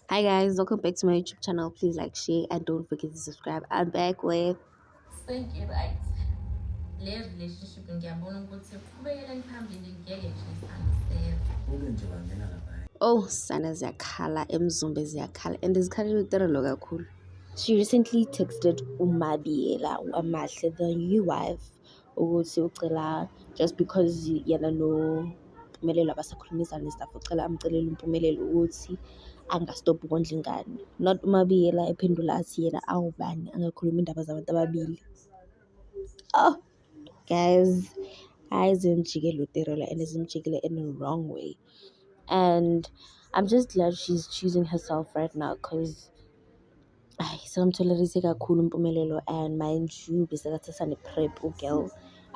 Hi guys, welcome back to my YouTube channel. Please like, share, and don't forget to subscribe. I'm back with Thank you, right. Le relationship ngiyabona ukuthi qhubekele phambili ngeke nje sangiseva. Kube nje wangena lapha. Oh, sana ziyakhala, emzumbe ziyakhala and izikhala literally kakhulu. She recently texted Umabiela Wamahle, the new wife ukuthi ucela just because yena noMpumelelo abasakhulumizani and stuff ucela amcelele uMpumelelo ukuthi angastop ukondla ingane not uMabiyela ephendula athi yena awubani angakhulumi indaba zabantu ababili oh guys hayi zimjikele uterela and zimjikele in a wrong way and I'm just glad she's choosing herself right now because Ayi sekamtholerise kakhulu impumelelo and mind you besekathatha ne-prep ugirl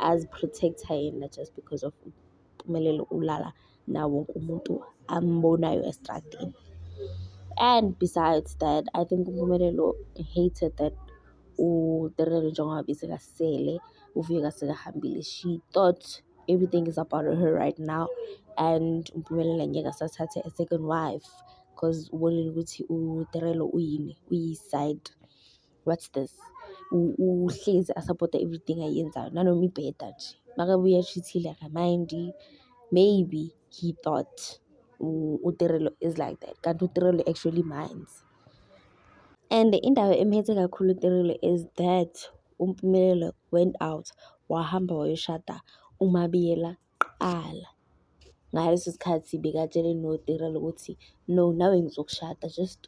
aziprotect-a yena just because of impumelelo ulala nawo wonke umuntu ambonayo estradini. And besides that I think uMpumelelo hated that uTerero njengoba besekasele uvuke kasekahambile she thought everything is about her right now and uMpumelelo ngeke asathathe a second wife. because ubonile ukuthi uTerelo uyini uyi-side what's this uhlezi asapota everything ayenzayo nanoma ibheda nje makabuya ashithile akamind-i maybe he thought uTerelo is like that kanti uTerelo actually minds and indaba emphethe kakhulu uTerelo is that uMpumelelo went out wahamba wayoshada uMabiyela kuqala. Ngaleso sikhathi bekatshele noTirelo ukuthi no nawe ngizokushada just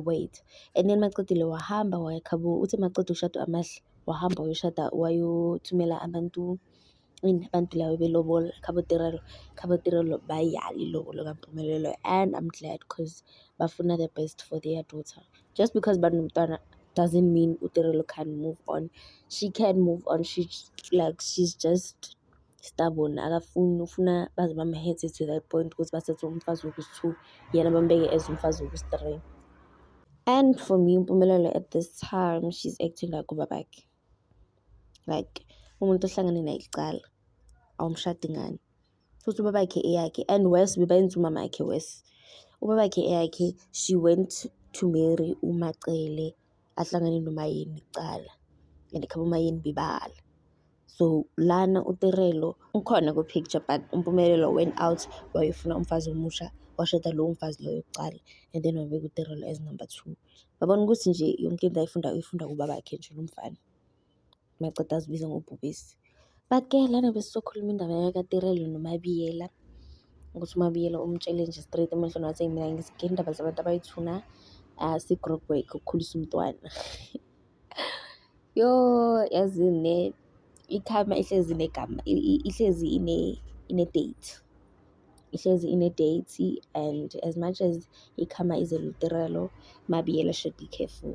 wait and then maqedile wahamba waya khabo uthi maqeda ukushada amahle wahamba wayoshada wayothumela abantu ini abantu laba belobola khabo Tirelo khabo Tirelo bayala ilobolo kaMpumelelo and I'm glad cause bafuna the best for their daughter just because banomntwana doesn't mean uTirelo can move on she can move on she like she's just stubborn akafuni ufuna baze bamhetse to that point ukuthi bathathe umfazi wokusi-two yena bambeke as umfazi wokusi-three and for me impumelelo at this time she's acting like ubabakhe like umuntu ohlangane naye kuqala awumshadi ngani futhi ubabakhe eyakhe and worse bebayenza umamakhe worse ubabakhe eyakhe she went to marry umacele ahlangane nomayeni kuqala and khaba umayeni bebala so lana utirelo ukhona kwi-picture but umpumelelo went out wayefuna umfazi omusha washada lowo mfazi loyo kuqala and then wabeka utirelo as number two babona ukuthi nje yonke into ayifunda uyifunda kubabakhe nje lo mfana maceda azibiza ngobhubesi but ke lana besizokhuluma indaba yakatirelo nomabiyela ukuthi umabiyela umtshele nje straight emehlweni wathi mina ngizigela indaba zabantu abayithuna asi-group work ukukhulisa umntwana Yho, yazi ne i-karma ihlezi inegama ihlezi ine-date, ihlezi ine-date and as much as i-karma is a literal MaBiyela should be careful.